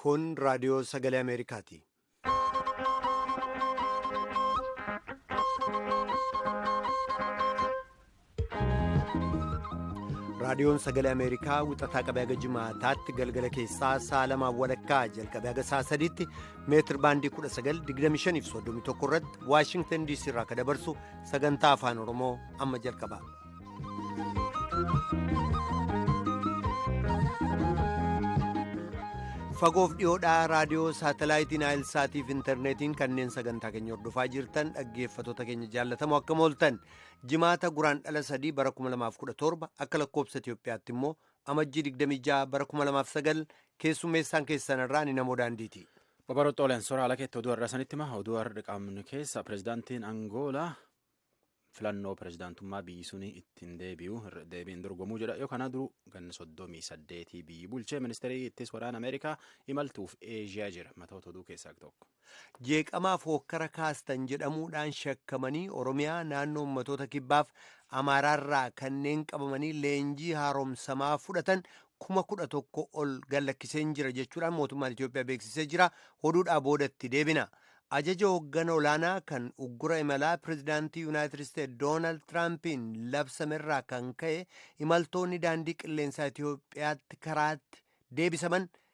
Kun raadiyoo sagalee Ameerikaati. raadiyoon sagalee ameerikaa wixataa qabee haga jimaataatti galgala keessaa sa'a lamaa walakkaa jalqabee haga sa'a sadiitti meetir baandii 1925 irratti waashingtan diisii irraa akka dabarsu sagantaa afaan oromoo amma jalqaba. fagoof dhiyoodhaa raadiyoo saatalaayitiin aayilsaatiif intarneetiin kanneen sagantaa keenya hordofaa jirtan dhaggeeffatoota keenya jaallatamoo akkam ooltan Jimaata Guraandhala 3 bara 2017 akka lakkoobsa Itoophiyaatti immoo amajjii 26 bara 2009 keessummeessaan keessanirraa ni namoo daandiiti. Babaroota Oleen Soraa Alakeetti oduu har'a sanitti hima. Oduu har'a qaamni keessa pirezidaantiin Angoolaa filannoo pirezidaantummaa biyyi suni ittiin deebi'u deebiin dorgomuu jedha. Yoo kanaa duruu ganna soddomii saddeetii biyyi bulchee ministeerii ittis waraana Ameerikaa imaltuuf Eeshiyaa jira. Matoota oduu keessaa tokko. jeeqamaaf hookkara kaastan jedhamuudhaan shakkamanii Oromiyaa naannoo ummatoota kibbaaf Amaaraarraa kanneen qabamanii leenjii haaromsamaa fudhatan kuma kudha tokko ol gallakkiseen jira jechuudhaan mootummaan Itoophiyaa beeksisee jira. Oduudhaa boodatti deebina. Ajaja hooggana olaanaa kan uggura imalaa pirezidaantii Yuunaayitid Isteetsi Doonaald Tiraampiin labsamerraa kan ka'e imaltoonni daandii qilleensaa Itoophiyaatti karaatti deebisaman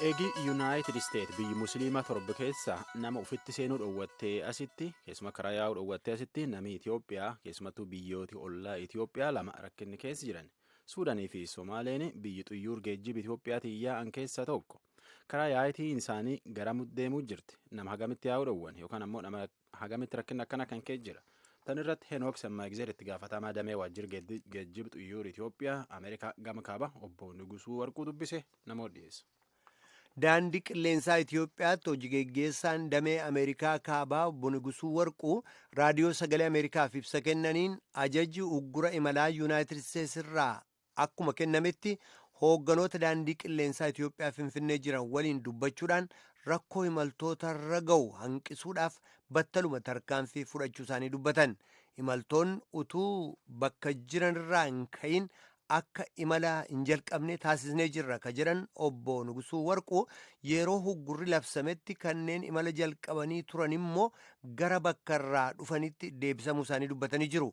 Eegi Yuunaayitid Isteet biyyi Musliimaa torba keessaa nama ofitti seenuu dhowwattee asitti keessuma karaa yaa'uu dhowwattee asitti namni Itoophiyaa keessumattuu biyyooti ollaa Itoophiyaa lama rakkinni keessa jiran Suudaanii fi Somaaleen biyyi xuyyuur geejjiba Itoophiyaatiin yaa'an keessaa tokko karaa yaa'itiin isaanii garamuu deemuu jirti nama hagamitti yaa'uu dhowwan yookaan ammoo nama Hagamitti rakkinni akkana kan ka'e jira. Tan irratti Henook Semmaagzeer itti gaafatamaa damee waajjira geejjiba xiyyaara Itoophiyaa Ameerikaa gama kaaba obbo Nigusuu Warquu dubbise namoota dhiyeessa. Daandii qilleensaa Itoophiyaatti hojii geggeessaan damee Ameerikaa kaabaa obbo Nigusuu Warquu raadiyoo sagalee Ameerikaaf ibsa kennaniin ajaji uggura imalaa Yuunaayitid Isteets irraa akkuma kennametti hoogganoota daandii qilleensaa Itoophiyaa Finfinnee jiran waliin dubbachuudhaan rakkoo imaltoota irra ga'u hanqisuudhaaf battaluma tarkaanfii fudhachuu isaanii dubbatan. Imaltoonni utuu bakka jiranirraa hin ka'in akka imala hin jalqabne taasisnee jirra ka jedhan obbo Nugusuu Warquu yeroo huggurri labsametti kanneen imala jalqabanii turan immoo gara bakka irraa dhufanitti deebisamuu isaanii dubbatanii jiru.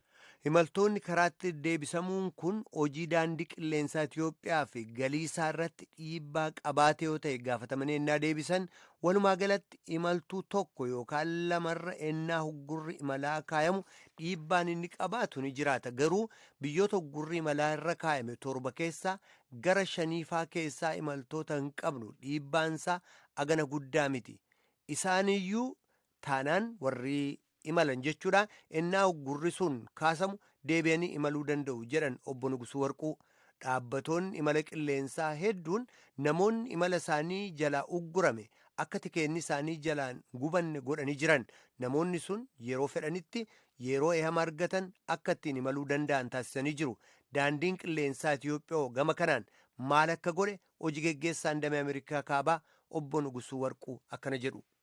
Imaltoonni karaatti deebisamuun kun hojii daandii qilleensaa Itiyoophiyaa fi galii isaa irratti dhiibbaa qabaate yoo ta'e gaafatamanii ennaa deebisan walumaa galatti imaltuu tokko yookaan lamarra ennaa huggurri imalaa kaayamu dhiibbaan inni qabaatu ni jiraata garuu biyyoota huggurri imalaa irra kaayame torba keessaa gara shaniifaa keessaa imaltoota hin qabnu dhiibbaansaa agana guddaa miti isaaniyyuu taanaan warri imalan jechuudha ennaa uggurri sun kaasamu deebi'anii imaluu danda'u jedhan obbo Nugusuu Warquu. Dhaabbatoonni imala qilleensaa hedduun namoonni imala isaanii jalaa uggurame akka tikeenni isaanii jalaan gubanne godhanii jiran namoonni sun yeroo fedhanitti yeroo ehama argatan akka ittiin imaluu danda'an taasisanii jiru. Daandiin qilleensaa Itiyoophiyaa gama kanaan maal akka godhe hojii geggeessaan damee Ameerikaa kaabaa obbo Nugusuu Warquu akkana jedhu.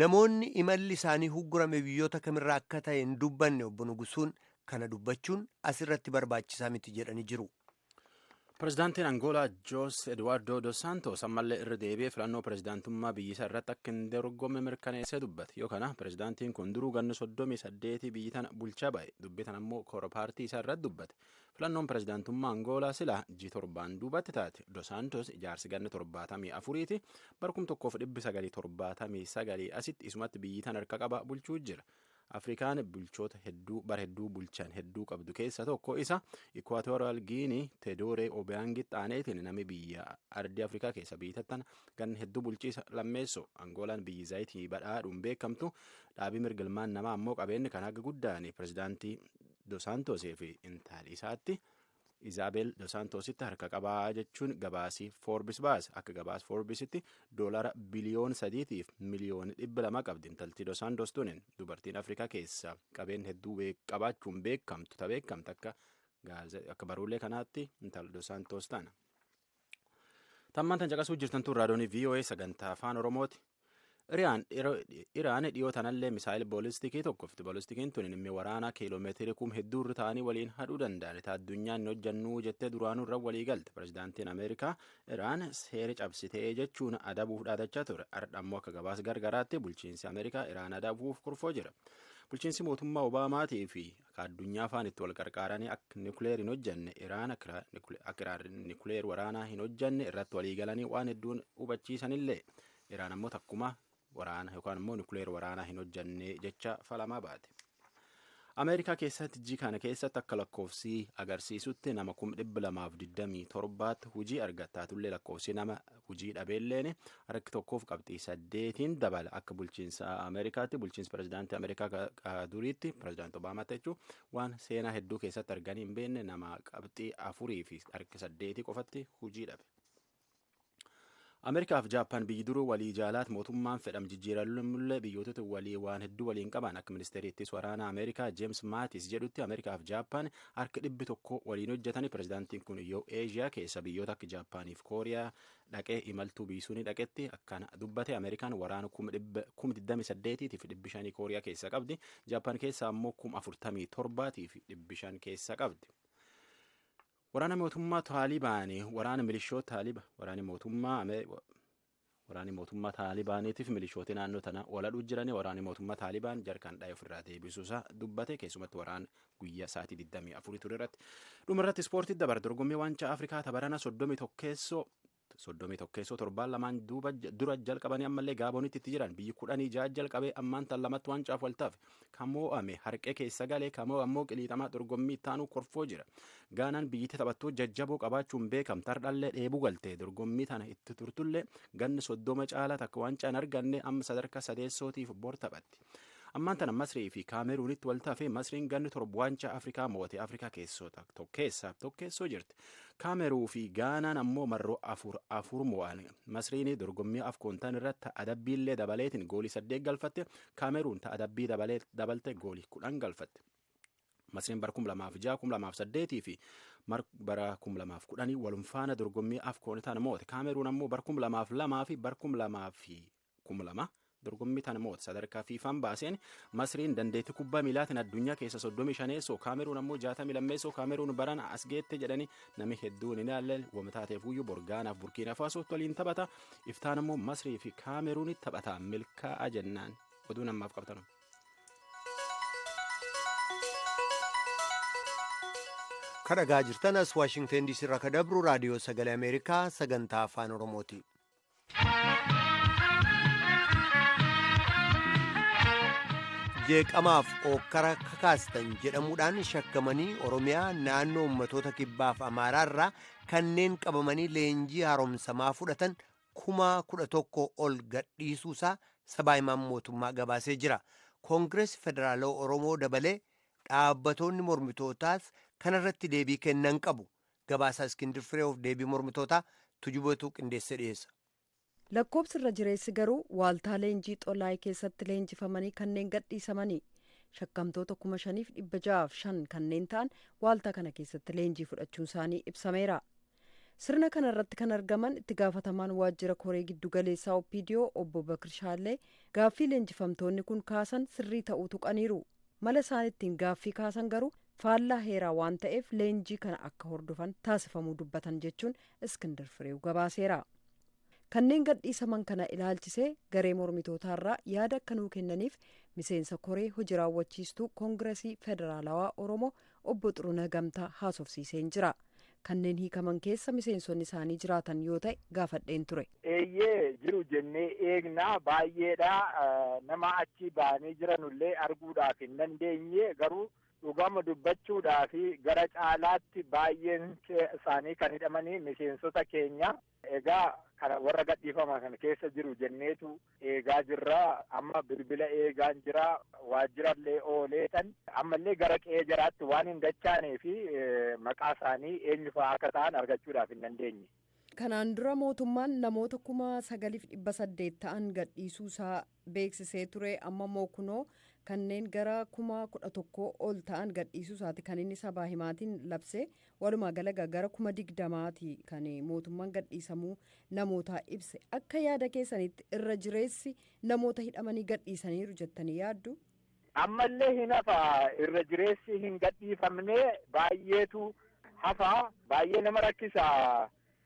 Namoonni imalli isaanii huggurame biyyoota kamirraa akka ta'e hin dubbanne obbo Nugusuun kana dubbachuun asirratti barbaachisaa miti jedhanii jiru. Pirezidaantiin Angoolaa Joos Eduwaardoo Dos Saantoos ammallee irra deebi'ee filannoo pirezidaantummaa biyyisaa irratti akka hin dorgomme mirkaneessee dubbate. Yoo kana pirezidaantiin kun duruu ganna soddomii saddeetii biyyi tana bulchaa ba'e dubbii tana immoo koora paartii isaa irratti dubbate. Filannoon pirezidaantummaa Angoolaa silaa ji torbaan duubatti taate Dosaantos ijaarsi ganna torbaatamii afuriiti bara kum tokkoof dhibbi sagalii torbaatamii sagalii asitti isumatti biyyi tan harka qaba bulchuu jira. Afrikaan bulchoota hedduu bara hedduu bulchan hedduu qabdu keessa tokko isa Ikwaatoraal Giinii Tedooree Obiyaangitti aaneetiin nami biyya ardii Afrikaa keessa biyyattan ganna hedduu bulchiisa lammeessu Angoolaan biyyi zayitii badhaadhuun beekamtu dhaabii mirgilmaan namaa ammoo qabeenyi kan haga guddaan pirezidaantii Dosaantoosii fi intaali isaatti Izaabel Dosaantoositti harka qabaa jechuun gabaasii Foorbis baase. Akka gabaas Foorbisitti doolara biliyoon sadiitiif miliyoon dhibba lama qabdi intalti Dosaantoos tunin dubartiin Afrikaa keessa qabeen hedduu qabaachuun beekamtu ta beekamtu akka akka baruulee kanaatti intal Dosaantoos tana. Tammaan tan caqasuu jirtan tun raadiyoonii VOA sagantaa afaan Oromooti. Iraan dhiyoo tanallee misaayil boolistikii tokkofti. Boolistikiin tun inni waraanaa kiiloomeetirii kum hedduu irra ta'anii waliin hadhuu danda'an. Taa addunyaan hin hojjannuu jettee duraanuu irra walii galte. Pirezidaantiin Ameerikaa Iraan seera cabsitee jechuun adabuuf dhaadachaa ture. Har'a ammoo akka gabaas gargaraatti bulchiinsi Ameerikaa Iraan adabuuf kurfoo jira. Bulchiinsi mootummaa Obaamaatii fi akka addunyaa faan itti wal qarqaaranii akka nukleer hin hojjanne iraan akka iraan nukleer waraanaa hin hojjanne irratti walii galanii waan hedduun hubachiisanillee iraan ammoo takkuma waraana yookaan immoo nukleer waraanaa hin hojjanne jecha falamaa baate. Ameerikaa keessatti jii kana keessatti akka lakkoofsii agarsiisutti nama kum dhibba lamaaf digdamii torbaatti hojii argattaatullee lakkoofsi nama hujii dhabeelleen harki tokkoof qabxii saddeetiin dabala akka bulchiinsa ameerikaatti bulchiinsa pirezidaantii ameerikaa duriitti pirezidaanti obaamaatti jechuun waan seenaa hedduu keessatti arganii hin beekne nama qabxii afurii fi harki saddeetii qofatti hujii dhabe. ameerikaaf jaappaan biyyi duruu walii jaalaat mootummaan fedham jijjiiramullee biyyootota walii waan hedduu waliin qaban akka ministeeriittis waraana ameerikaa jeems maatis jedhutti ameerikaaf jaappaan harki dhibbi tokko waliin hojjetanii pirezidaantiin kun yoo eeshiyaa keessa biyyoota akka jaappaaniif kooriyaa dhaqee imaltuu biisuun dhaqetti akkaan dubbate ameerikaan waraana kuma dhibba kuma digdami saddeetiitiif dhibbi shanii kooriyaa keessa qabdi jaappaan keessa ammoo kuma afurtamii torbaatiif dhibbi shan keessa qabdi. Waraana mootummaa Taalibaanii waraana milishoota Taaliba waraana mootummaa Waraanii mootummaa Taalibaaniitiif milishootii naannoo tanaa waladhuu jiranii waraanii mootummaa Taalibaan jarkaan dhaayee ofirraa deebisuu isaa dubbate keessumatti waraan guyyaa sa'aatii 24 ture irratti. Dhuma irratti ispoortii dabar dorgommii waancaa Afrikaa tabarana 31 keessoo soddomii tokkeessoo torbaan lamaan dura jalqabanii ammallee gaabonitti itti jiran biyyi kudhanii ja'a jalqabee ammaan tan lamatti waancaaf waltaaf Kan moo'ame harqee keessa galee kan moo'e ammoo qiliixamaa dorgommii itti aanuu korfoo jira. Gaanaan biyyittii taphattoota jajjaboo qabaachuun beekamte hardhallee dheebuu galte dorgommii tana itti turtullee ganni soddoma caalaa takka waancaa hin arganne amma sadarkaa sadeessootiif bor taphatti. Ammaan tana Masrii fi Kaameruunitti wal tafe Masriin ganni torba waancaa Afrikaa moo'ate Afrikaa keessoo tokkeessaaf tokkeessoo jirti. Kaameruu fi Gaanaan ammoo marroo afur afur moo'an. Masriin dorgommii afkoontaan irratti adabbiillee dabaleetiin goolii saddeet galfatte Kaameruun ta adabbii dabalte goolii kudhan galfatte. Masriin bara 2006, 2008 fi bara 2010 walum faana dorgommii afkoon tana moote. Kaameruun ammoo bara 2002 fi bara 2002 dorgommii tana moote. Sadarkaa fiifaan baaseen Masriin dandeettii kubbaa miilaatiin addunyaa keessa 35 Kaameruun ammoo 62 Kaameruun barana as geette jedhanii namni hedduun hin ilaalle wamtaateef guyyuu borgaanaaf burkiina faasootti waliin taphata. iftaan ammoo masrii fi kaameruunitti taphataa milkaa'aa jennaan oduun ammaaf qabnu. kan dhagaa jirtan as waashingten diisii irraa kan dabru raadiyoo sagalee ameerikaa sagantaa afaan oromooti jeeqamaaf ookkara kakaastan jedhamuudhaan shakkamanii oromiyaa naannoo ummatoota kibbaaf amaaraa irraa kanneen qabamanii leenjii haaromsamaa fudhatan kuma kudha tokko ol gadhiisuusaa sabaa himaan mootummaa gabaasee jira. Koongireesii Federaalawaa Oromoo dabalee dhaabbatoonni mormitootaas kanarratti deebii kennan qabu. Gabaasaa Iskindir Fireewof deebii mormitootaa tujubatuu qindeessee dhiyeessa. Lakkoobsi irra jireessi garuu waaltaa leenjii Xolaay keessatti leenjifamanii kanneen gadhiisamani. Shakkamtoota 5,605 kanneen ta'an waaltaa kana keessatti leenjii fudhachuun isaanii ibsameera. Sirna kana irratti kan argaman itti gaafatamaan waajjira koree giddu galeessaa Oppiidiyoo obbo Bakir Shaallee gaaffii leenjifamtoonni kun kaasan sirrii ta'uu tuqaniiru. Mala isaan ittiin gaaffii kaasan garuu faallaa heeraa waan ta'eef leenjii kana akka hordofan taasifamuu dubbatan jechuun Iskindir Fireew gabaaseera. Kanneen gadhiisaman kana ilaalchisee garee mormitootaarraa yaada akka nuu kennaniif miseensa koree hoji raawwachiistuu Koongirasii Federaalawaa Oromoo obbo Xurunah Gamtaa haasofsiiseen jira. Kanneen hiikaman keessa miseensonni isaanii jiraatan yoo ta'e gaafadheen ture. Eeyyee jiru jennee eegna baay'eedha nama achi ba'anii jiranullee arguudhaaf hin dandeenye garuu dhugama dubbachuudhaaf gara caalaatti baay'een isaanii kan hidhamanii miseensota keenya Egaa kana warra gadhiifaman kana keessa jiru jenneetu eegaa jirra. Amma bilbila eegaan jira. Waajjirallee ooleetan ammallee gara qe'ee jaraatti waan hin dachaanee fi maqaa isaanii eenyu fa'aa akka ta'an argachuudhaaf hin dandeenye. Kanaan dura mootummaan namoota kuma sagaliif dhibba saddeet ta'an gadhiisuu isaa beeksisee ture amma moo kunoo kanneen gara kuma kudha tokkoo ol ta'an gadhiisuu isaati kan inni sabaa himaatiin labsee walumaa galaga gara kuma digdamaati kan mootummaan gadhiisamuu namootaa ibse akka yaada keessanitti irra jireessi namoota hidhamanii gadhiisaniiru jettanii yaaddu. Ammallee hin hafa irra jireessi hin gadhiifamne baay'eetu hafa baay'ee nama rakkisa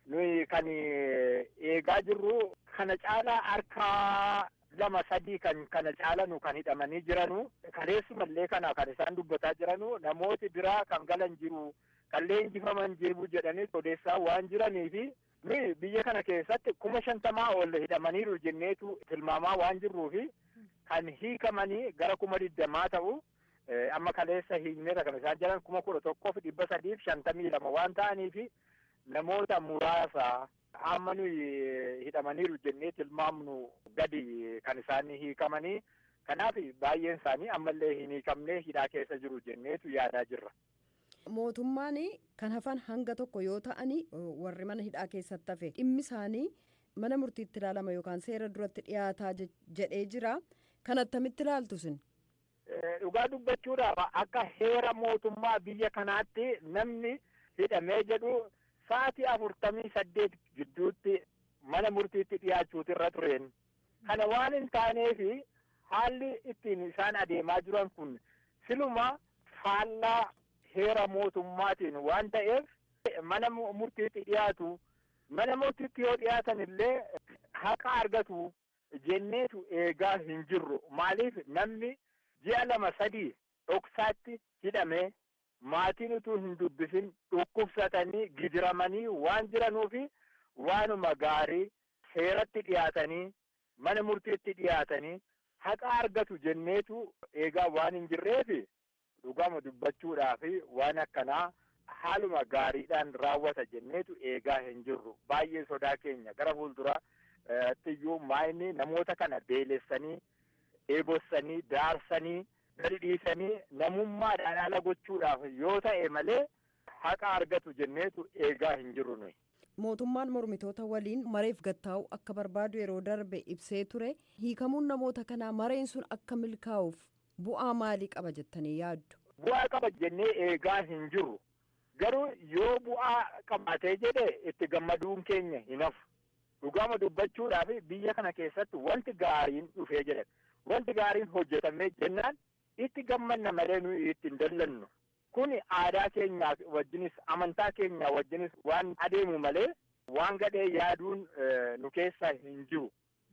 Nuyi kan eegaa jirru kana caalaa harka lama sadii kan kana caalanu kan hidhamanii jiranu kaleessumallee kana kan isaan dubbataa jiranu namooti biraa kan galan jiru kan leenjifaman jiru jedhanii odeessaa waan jiraniifi nuyi biyya kana keessatti kuma shantamaa ol hidhamaniiru jenneetu tilmaamaa waan jirruufi kan hiikamanii gara kuma digdamaa ta'u Amma kaleessa hiikneerra kan isaan jiran kuma kudha tokkoo fi dhibba sadii fi shantamii lama waan ta'aniif namoota muraasa amma nuyi hidhamaniiru jennee tilmaamnu gadi kan isaan hiikamanii kanaaf baay'een isaanii ammallee hin hiikamne hidhaa keessa jiru jenneetu yaadaa jirra. Mootummaan kan hafan hanga tokko yoo ta'anii warri mana hidhaa keessatti hafe dhimmi isaanii mana murtiitti ilaalama yookaan seera duratti dhiyaataa jedhee jira. Kan attamitti ilaaltu isin? Dhugaa dubbachuudhaaf akka heera mootummaa biyya kanaatti namni hidhamee jedhu sa'aatii afurtamii saddeet gidduutti mana murtiitti dhiyaachuutu irra tureen. Kana waan hin taaneef haalli ittiin isaan adeemaa jiran kun siluma faallaa heera mootummaatiin waan ta'eef mana murtiitti dhiyaatu. Mana murtiitti yoo dhiyaatan illee haqa argatu. jenneetu eegaa hin jirru. Maaliif namni ji'a lama sadii dhoksaatti hidhamee maatiin utuu hin dubbisin dhukkubsatanii gidiramanii waan jiranuufi waanuma gaarii seeratti dhiyaatanii mana murtiitti dhiyaatanii haqa argatu jenneetu eegaa waan hin jirreefi Dhugaama dubbachuudhaaf waan akkanaa haaluma gaariidhaan raawwata jenneetu eegaa hin jirru. Baay'ee sodaa keenya. Gara fuulduraattiyyuu maayinni namoota kana beelessanii, dheebossanii, daarsanii, gadi dhiisanii namummaadhaan ala gochuudhaaf yoo ta'e malee haqa argatu jenneetu eegaa hin jirru nuyi. Mootummaan mormitoota waliin mareef gad taa'uu akka barbaadu yeroo darbe ibsee ture. Hiikamuun namoota kanaa mareen sun akka milkaa'uuf bu'aa maalii qaba jettanii yaaddu? Bu'aa qaba jennee eegaa hin jirru. Garuu yoo bu'aa qabaatee jedhe itti gammaduun keenya hin hafu. Dhugaama dubbachuudhaaf biyya kana keessatti wanti gaariin dhufee jedhan. Wanti gaariin hojjetamee jennaan itti gammanna malee nuyi itti hin dallannu. Kun aadaa keenyaa wajjinis amantaa keenyaa wajjinis waan adeemu malee waan gadhee yaaduun nu keessa hin jiru.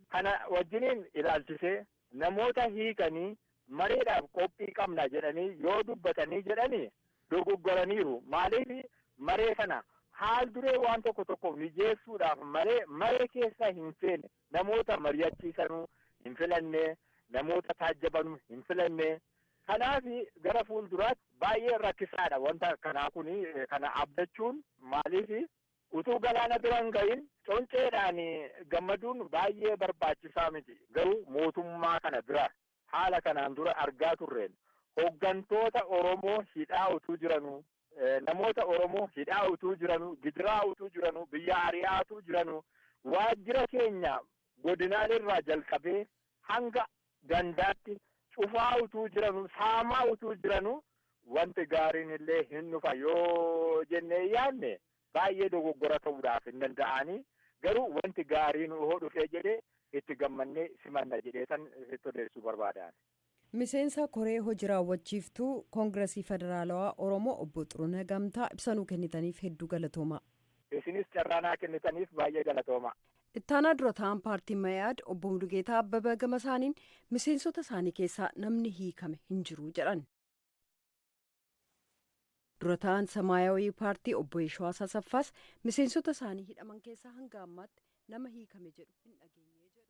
Kana wajjiniin ilaalchisee namoota hiikanii mareedhaaf qophii qabna jedhanii yoo dubbatanii jedhani dogoggoraniiru. Maaliif maree kana haal duree waan tokko tokko mijeessuudhaaf malee maree keessa hin seene. Namoota mari'achiisanu hin filanne, namoota taajjabanu hin filanne. Kanaaf gara fuulduraatti baay'ee rakkisaadha wanta akkanaa kun kana abdachuun maaliif utuu galaana bira hin gahin conceedhaan gammaduun baay'ee barbaachisaa miti garuu mootummaa kana bira Haala kanaan dura argaa turreen hoggantoota Oromoo hidhaa utuu jiranuu, namoota Oromoo hidhaa utuu jiranuu, gidiraa utuu jiranuu, biyyaa ari'aa utuu jiranuu, waajjira keenya godinaalee irraa jalqabee hanga gandaatti cufaa utuu jiranuu, saamaa utuu jiranuu wanti gaariin illee hin dhufa yoo jennee yaadne Baay'ee dogoggora ta'uudhaaf hin danda'aani, garuu wanti gaariin hoo dhufee jedhe itti gammannee simanna jedheetan sitti odeessuu barbaada ani. Miseensa koree hoji raawwachiiftuu Kongirasii Federaalawaa Oromoo Obbo Xuruneh Gamtaa ibsa nuu kennitaniif hedduu galatoomaa. Isinis carraa naa kennitaniif baay'ee galatoomaa. Ittaanaa Dura Taa'aan Paartii Ma'i'aad Obbo Mulugeetaa Abbabaa gama isaaniin miseensota isaanii keessaa namni hiikame hin jiru jedhan. Dura taa'aan Samaayawii Paartii obbo Yeshiwaas Asaffaas miseensota isaanii hidhaman keessaa hanga ammaatti nama hiikame jedhu hin dhageenye jedhu.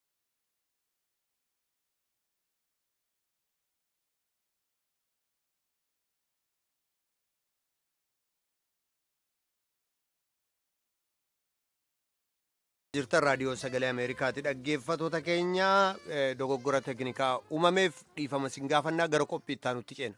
jirtan raadiyoo sagalee ameerikaati dhaggeeffatoota keenya eh, dogoggora teknikaa uumameef dhiifama sin gaafannaa gara qophii itti aanutti ceena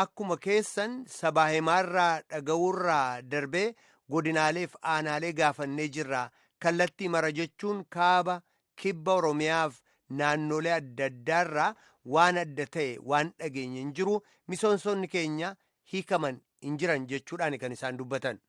Akkuma keessan sabaa himaarraa dhaga'uurraa darbee godinaaleef aanaalee gaafannee jirra. Kallattii mara jechuun kaaba, kibba Oromiyaaf naannolee adda addaarraa waan adda ta'e waan dhageenye hin jiru misoonsonni keenya hiikaman hin jiran jechuudhaan kan isaan dubbatan.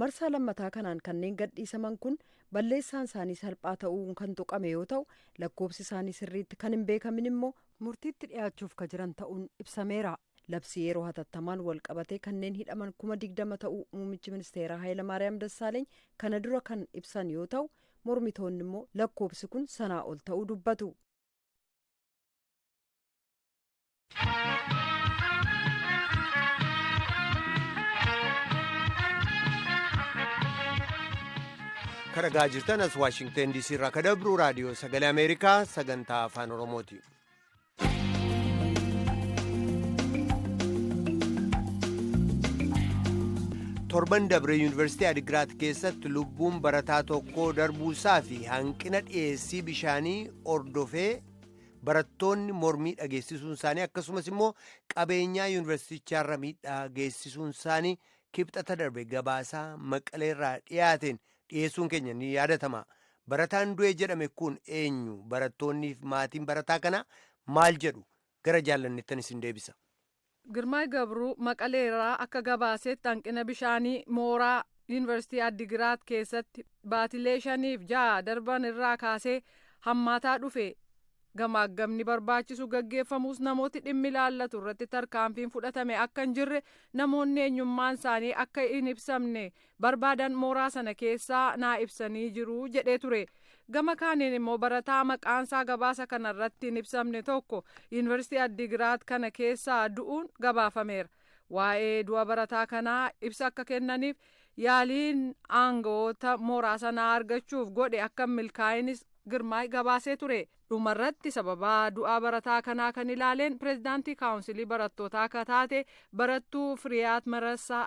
Marsaa lammataa kanaan kanneen gadhiisaman kun balleessaan isaanii salphaa ta'uun kan tuqame yoo ta'u, lakkoofsi isaanii sirriitti kan hin beekamin immoo murtiitti dhiyaachuuf ka jiran ta'uun ibsameera. Labsii yeroo hatattamaan walqabatee kanneen hidhaman kuma 20 ta'uu muummichi ministeeraa Hayilamaariyaam Dassaaleny kana dura kan ibsan yoo ta'u, mormitoonni immoo lakkoofsi kun sanaa ol ta'uu dubbatu. kan dhagaa jirtan as waashingten diisii irraa ka dabru raadiyoo sagalee ameerikaa sagantaa afaan oromooti torban dabre yuunivarsiitii adigiraat keessatti lubbuun barataa tokkoo darbuusaa fi hanqina dhiyeessii bishaanii hordofee barattoonni mormii dhageessisuun isaanii akkasumas immoo qabeenyaa yuunivarsiitichaarra miidhaa geessisuun isaanii kibxata darbe gabaasaa maqaleerraa dhiyaateen dhiyeessuun keenya ni yaadatama. Barataan du'e jedhame kun eenyu? Barattoonniif maatiin barataa kanaa maal jedhu? Gara jaallanneettan isin deebisa. Girmaay Gabruu Maqalee irraa akka gabaasetti hanqina bishaanii mooraa Yuunivarsiitii Addigiraat keessatti baatilee shaniif ja'a darban irraa kaasee hammaataa dhufe gamaaggamni barbaachisu gaggeeffamuus namooti dhimmi ilaallatu irratti tarkaanfiin fudhatame akka hin jirre namoonni eenyummaan isaanii akka hin ibsamne barbaadan mooraa sana keessaa naa ibsanii jiru jedhee ture. Gama kaaniin immoo barataa maqaansaa gabaasa kana irratti hin ibsamne tokko Yuunivarsiitii Addigiraat kana keessaa du'uun gabaafameera. Waa'ee du'a barataa kanaa ibsa akka kennaniif yaaliin aangawoota mooraa sanaa argachuuf godhe akka hin milkaa'inis Girmaay gabaasee ture. Dhumarratti sababaa du'aa barataa kanaa kan ilaaleen pireezidaantii kaawunsilii barattootaa akka taate barattuu Firiyaat Marassaa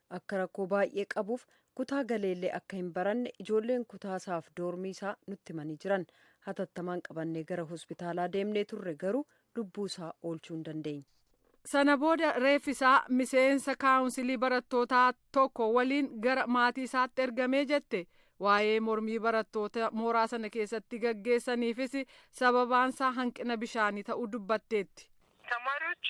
Akka rakkoo baay'ee qabuuf kutaa galeellee akka hin baranne ijoolleen kutaa isaaf doormii isaa nutti himanii jiran. Hatattamaan qabannee gara hospitaalaa deemnee turre garuu lubbuu isaa oolchuu hin dandeenye. Sana booda reeffi isaa miseensa kaawunsilii barattootaa tokko waliin gara maatii isaatti ergamee jette. Waa'ee mormii barattoota mooraa sana keessatti gaggeessaniifis sababaan isaa hanqina bishaanii ta'uu dubbatteetti. ተማሪዎቹ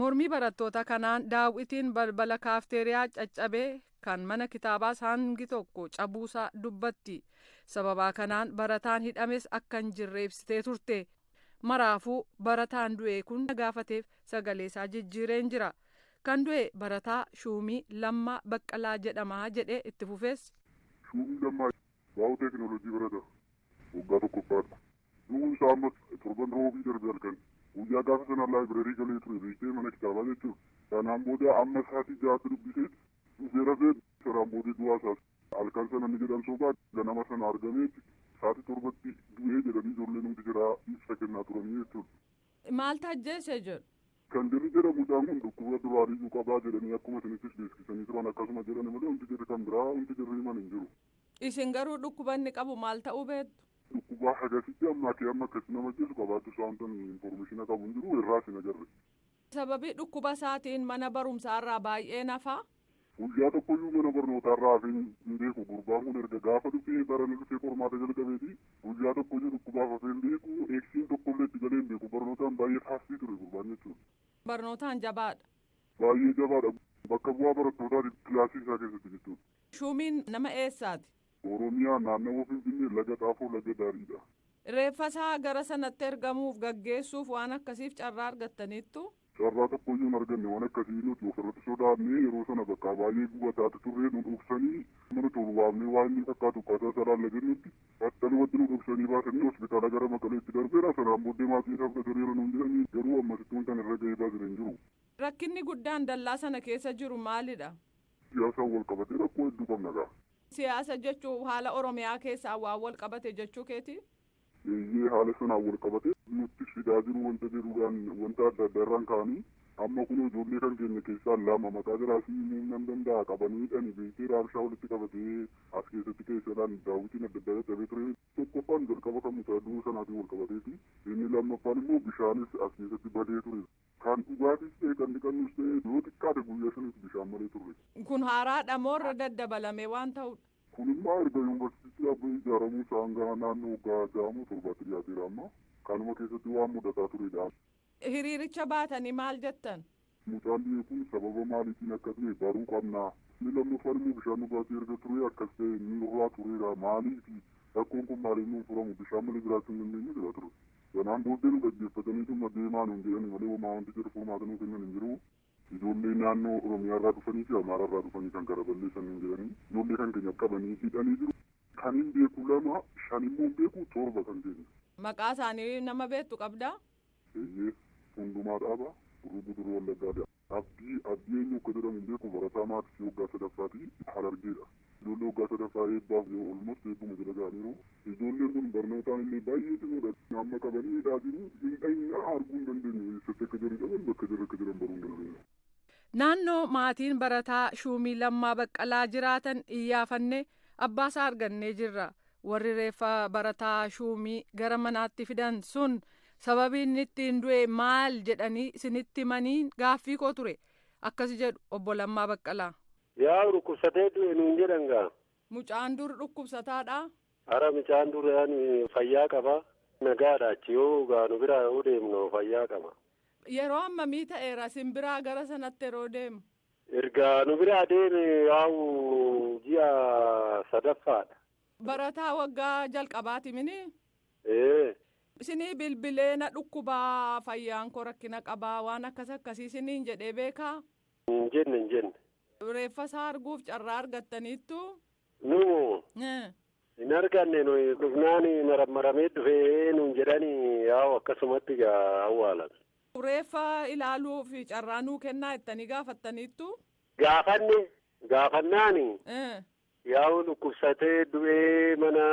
Mormii barattoota kanaan daaw'itiin balbala kaafteeriyaa caccabe, kan mana kitaabaas hangi tokko cabuusaa dubbatti. Sababaa kanaan barataan hidhames akka hin jirre ibsitee turte. Maraafuu barataan du'e kun na gaafateef sagaleesaa jijjiireen jira. Kan du'e barataa Shuumii Lammaa Baqqalaa jedhama jedhe itti fufees. Shuumii Lammaa baayooteeknooloojii barata. waggaa tokkoffaadha. Du'uu isaa ammas torban Roobii darbe halkan guyyaa gaafa sana laayibrarii galee ture beektee mana kitaabaa jechuun sanaan booda amma sa'aatii ja'aatti dubbisee dhufee rafee sanaan booda du'aa isaas halkan sana inni jedhan sobaa ganama sana argamee sa'aatii torbatti du'ee jedhanii ijoolleen hundi jiraa ibsa kennaa turanii jechuudha. Maal taajjeese jedhu? Kan jirri jedhamu mucaan kun dhukkuba duraaniyyuu qabaa jedhanii akkuma isinittis beeksisanii turan akkasuma jedhani malee hundi jirri kan biraa hundi jirri himan hin jiru. Isin garuu dhukkuba inni qabu maal ta'uu beektu? Dhukkuba hagasitti hammaatee amma akkatti nama ajjeesu qabaachuu isaa wanta nuyi information qabu hin jiru irraas hin agarre. Sababii dhukkuba isaatiin mana barumsaa irraa baay'een hafa. Guyyaa tokkoyyuu mana barnootaa irraa hafee hin beeku gurbaan kun erga gaafa dhufee barana dhufee qormaata jalqabeeti guyyaa tokkoyyuu dhukkubaaf hafee hin beeku eegsiin tokkollee itti galee hin beeku barnootaan baay'ee faastii ture gurbaan jechuudha. Barnootaan jabaadha. Baay'ee jabaadha. Bakka bu'aa barattootaati kilaasii isaa keessatti jechuudha. Shuumiin nama eessaati? Oromiyaa, Naannawa Finfinnee, Laga Xaafoo, Laga Daariidha. Reeffasaa gara sanatti ergamuuf, gaggeessuuf waan akkasiif carraa argattaniittuu? Carraa tokkoyyuu hin arganne. Waan akkasii nuti ofirratti sodaannee yeroo sana bakka baay'ee gubataatti turre. Nu dhoksanii mana tokko waamnee waa inni fakkaatu akkaataa isaa ilaalla jennutti battalumatti nu dhoksanii baasanii hospitaala gara Maqaleetti darbeera. Sanaan booddee maatiin isaa fudhateera nuun jedhanii garuu ammasittuu wantan irra ga'ee baasire hin jiru. Rakkinni guddaan dallaa sana keessa jiru maalidha? Siyaasaan wal qabatee rakkoo hedduu qabna gaa. Siyaasa jechuun haala Oromiyaa keessaan waan wal qabate jechuu keetii? Eeyyee haala sanaan wal qabatee nutti fidaa jiru wanta jedhuudhaan wanta adda addaa irraan ka'anii amma kunoo ijoollee kan keenya keessaa lama maqaa jaraa sii himuun nan danda'a qabanii hidhani beektee raabshaa walitti qabatee as keessatti keessadhaan daawwitiin adda addaa caccabee ture. Tokkoffaan jalqaba kan mucaa du'uu sanaatiin wal qabateeti. Inni lammaffaan immoo bishaanis as keessatti badee ture. Kan dhugaatiis ta'e kan dhiqannus ta'e yoo xiqqaate guyyaa shaniif bishaan malee turre. Kun haaraadha moo irra daddabalamee waan ta'udha? Kun immaa erga yuunvarsiitii Abbay ijaaramuu isaa hanga naannoo waggaa ja'a moo torbaatti dhiyaateera amma. Kanuma keessatti waan mudataa turedha. Hiriiricha baatanii maal jettan? Mucaan du'e kun sababa maaliitiin akka du'e baruu qabna. Inni lammaffaan immoo bishaan dhugaatii erga turee akkas ta'e nurraa tureera maaliifi? Rakkoon kun maaliif nuun furamu? Bishaan malee jiraachuu hin dandeenyu jedhaa ture. Sanaan booddee nu dhaggeeffataniituma deemaa nuun jedhani malee homaa wanti jedhu furmaata nuu kennan hin jiru. Ijoollee naannoo Oromiyaarraa dhufanii fi Amaaraarraa dhufanii kan kana balleessan nuun jedhanii ijoollee kan keenya qabanii hidhanii jiru. Kanin beeku lama, shan immoo hin beeku, torba kan keenya. Maqaa isaanii nama beektu qabdaa? Eeyyee. Hundumaa Dhaabaa, Gurruu Guduruu Wallaggaa Daa. Abdii, Abdii eenyu akka jedhamu hin beeku, barataa maaksii waggaa sadaffaati, Harargeedha. Ijoollee waggaa sadaffaa eebbaaf jiru, almost eebbuma jala ga'aniiru. Ijoolleen kun barnootaan illee baay'ee cimoodha. Amma qabanii hidhaa jiru. Hin dhayna, arguu hin dandeenyu. Eessatti akka jiru hin dhaban, bakka jarri akka jiran baruu hin dandeenyu. Naannoo maatiin barataa Shuumii Lammaa Baqqalaa jiraatan iyyaafanne abbaasaa argannee jirra. Warri reeffa barataa shuumii gara manaatti fidan sun sababii inni ittiin du'e maal jedhanii isinitti himanii gaaffii koo ture. Akkas jedhu obbo Lammaa Baqqalaa. Yaa dhukkubsatee du'e nuun jedhan gaa. Mucaan dur dhukkubsataadhaa? Ara mucaan dur ani fayyaa qaba. Nagaadha achi yoo gaa nu biraa yoo deemnu fayyaa qaba. Yeroo ammamii ta'eera isin biraa gara sanatti yeroo deemu? Erga nu biraa deeme yaa'u ji'a sadaffaadha. Barataa waggaa jalqabaati mini? Ee. Isinii bilbilee na dhukkubaa fayyaan koo rakkina qabaa waan akkas akkasii isiniin jedhee beekaa? Hin jenne hin jenne. Reeffa isaa arguuf carraa argattaniittu? Numo hin arganne nuyi dhufnaan marammaramee dhufee nuun jedhani yaa'u akkasumatti gaa awwaalan. Reeffa ilaaluuf carraa nuu kennaa jettanii gaafattaniittu? Gaafanne, gaafannaani Eh. yaa'u dhukkubsatee du'ee mana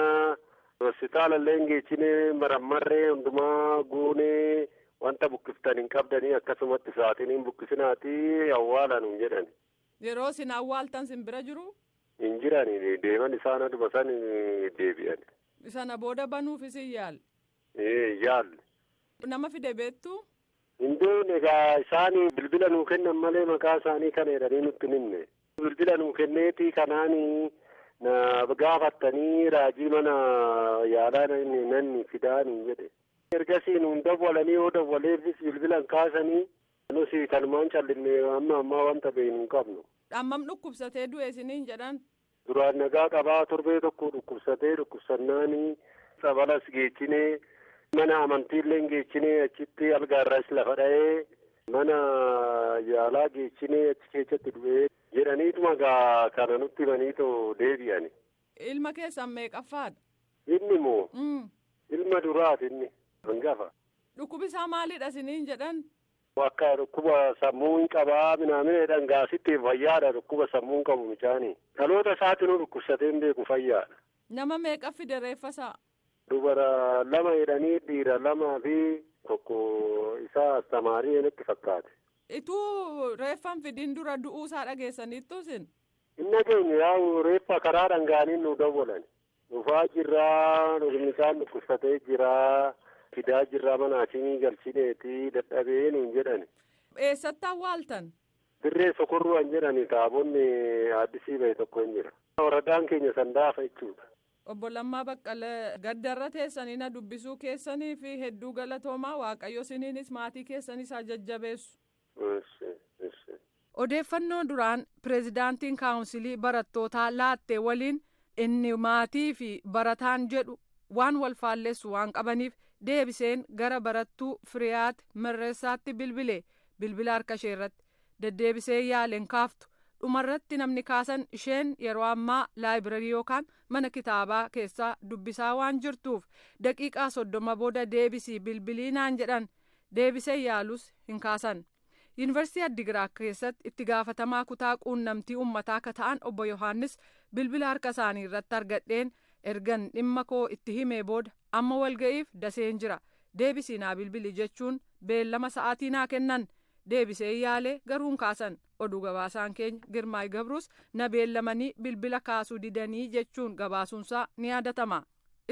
hospitaala illee hin geechine marammarree hundumaa guunee wanta buqqiftan hin qabdanii akkasumatti sa'aatiin hin buqqisinaati awwaala nuun jedhan. Yeroo isin awwaaltan sin bira jiru? Hin jirani deeman isaan aduma san deebi'an. Sana booda banuuf isin yaal. Ee yaalle. Nama fide beektuu? Hin beekne egaa isaan bilbila nuu kennan malee maqaa isaanii kana jedhanii nutti hin himne. Bilbila nuu kenneetii kanaan na gaafattanii raajii mana yaalaa nan fidaa nuun jedhe. Ergasii nuun dawwalanii yoo dawwaleefis bilbila hin kaasanii nus kanumaan callinne amma ammaa wanta beeknu hin qabnu. Hammam dhukkubsatee du'e isiniin jedhan? Duraan nagaa qabaa torbee tokko dhukkubsatee dhukkubsannaan tsabalas geechinee mana amantiilleen geechinee achitti algaarraas lafa dha'ee mana yaalaa geechinee achi keessatti du'ee jedhaniituma gaa kana nutti himaniitoo deebi'ani. Ilma keessan meeqaffaadha? Inni moo? Ilma duraati inni hangafa. Dhukkubi isaa maalidha isiniin jedhan? Akka dhukkuba sammuu hin qabaa minaamina jedhan gaa sitti fayyaadha dhukkuba sammuu hin qabu micaani. Dhaloota isaatinuu dhukkubsatee hin beeku fayyaadha. Nama meeqa fide reeffa isaa? Dubara lama jedhanii dhiira lamaa fi tokko isaa astamaarii natti fakkaate. Ituu reeffa hin fidin dura du'uu isaa dhageessaniittu isin? Hin dhageenye yaa'u reeffa karaa dhangaanii nu dawwalan. Dhufaa jirraa dhugni isaan dhukkubsatee jiraa fidaa jirraa mana akimii galchineeti dadhabee nuun jedhani. Eessatti awwaaltan? Dirree sokorruu an jedhani taabonni addisii bahe tokko hin jira. Waradaan keenya sandaafa jechuudha. Obbo Lammaa Baqqala gaddarra teessanii na dubbisuu keessaniif hedduu galatoomaa waaqayyo isiniinis maatii keessanis haa jajjabeessu. Eshi eshi. Odeeffannoo duraan pirezidaantiin kaawunsilii barattootaa laatte waliin inni maatii fi barataan jedhu waan wal faallessu waan qabaniif deebiseen gara barattuu Firiyaat Merreessaatti bilbile bilbila harka ishee irratti deddeebisee yaale hin kaaftu dhumarratti namni kaasan isheen yeroo ammaa laayibirarii yookaan mana kitaabaa keessaa dubbisaa waan jirtuuf daqiiqaa soddoma booda deebisii bilbilii naan jedhan deebisee yaalus hin kaasan. Yuunivarsiitii Addigiraat keessatti itti gaafatamaa kutaa quunnamtii uummataa akka ta'an obbo Yohaannis bilbila harka isaanii irratti argadheen ergan dhimma koo itti himee booda amma walga'iif daseen jira deebisii naa bilbili jechuun beellama sa'aatii naa kennan deebisee yaalee garuu hin kaasan oduu gabaasaan keenya Girmaay Gabruus na beellamanii bilbila kaasuu didanii jechuun gabaasuunsaa ni yaadatama.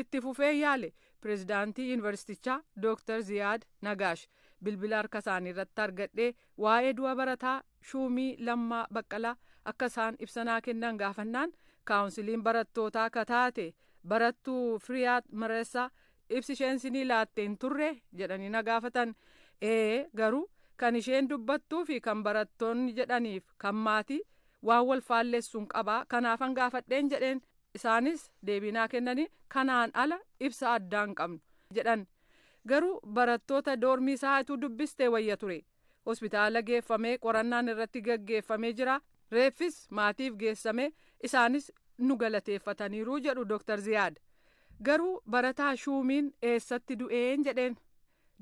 Itti fufee yaale pirezidaantii yuunivarsiitichaa Dooktar Ziyaad Nagaash bilbila harka isaanii irratti argadhee waa'ee du'a barataa shuumii Lammaa Baqqalaa akka isaan ibsanaa kennan gaafannaan kaawunsiliin barattootaa akka taate barattuu Firiyaat Mareessaa ibsi isheen sinii laatte hin turre jedhanii na gaafatan ee garuu kan isheen dubbattuu fi kan barattoonni jedhaniif kan maatii waan wal faallessuun qabaa kanaafan gaafadheen jedheen Isaanis deebii naa kennanii kanaan ala ibsa addaa hin qabnu jedhan. Garuu barattoota doormii isaa ituu dubbistee wayya ture. Hospitaala geeffamee qorannaan irratti gaggeeffamee jira. Reeffis maatiif geessamee isaanis nu galateeffataniiru jedhu Dr. Ziyaad. Garuu barataa shuumiin eessatti du'een jedheen.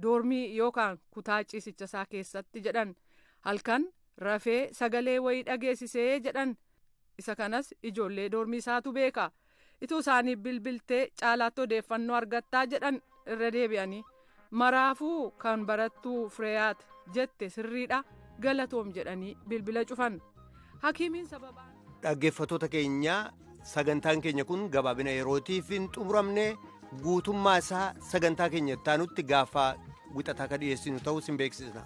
doormii yookaan kutaa ciisicha isaa keessatti jedhan halkan rafee sagalee wayii dhageessisee jedhan isa kanas ijoollee doormii isaatu beeka ituu isaanii bilbiltee caalaatti odeeffannoo argattaa jedhan irra deebi'anii maraafuu kan barattuu fireeyaat jette sirriidha galatoom jedhanii bilbila cufan. Hakiimiin sababaa. Dhaggeeffattoota keenya sagantaan keenya kun gabaabina yerootiif hin xumuramne guutummaa isaa sagantaa keenya itti aanutti gaafa wixataa ka dhiyeessinu ta'uu sin beeksisna.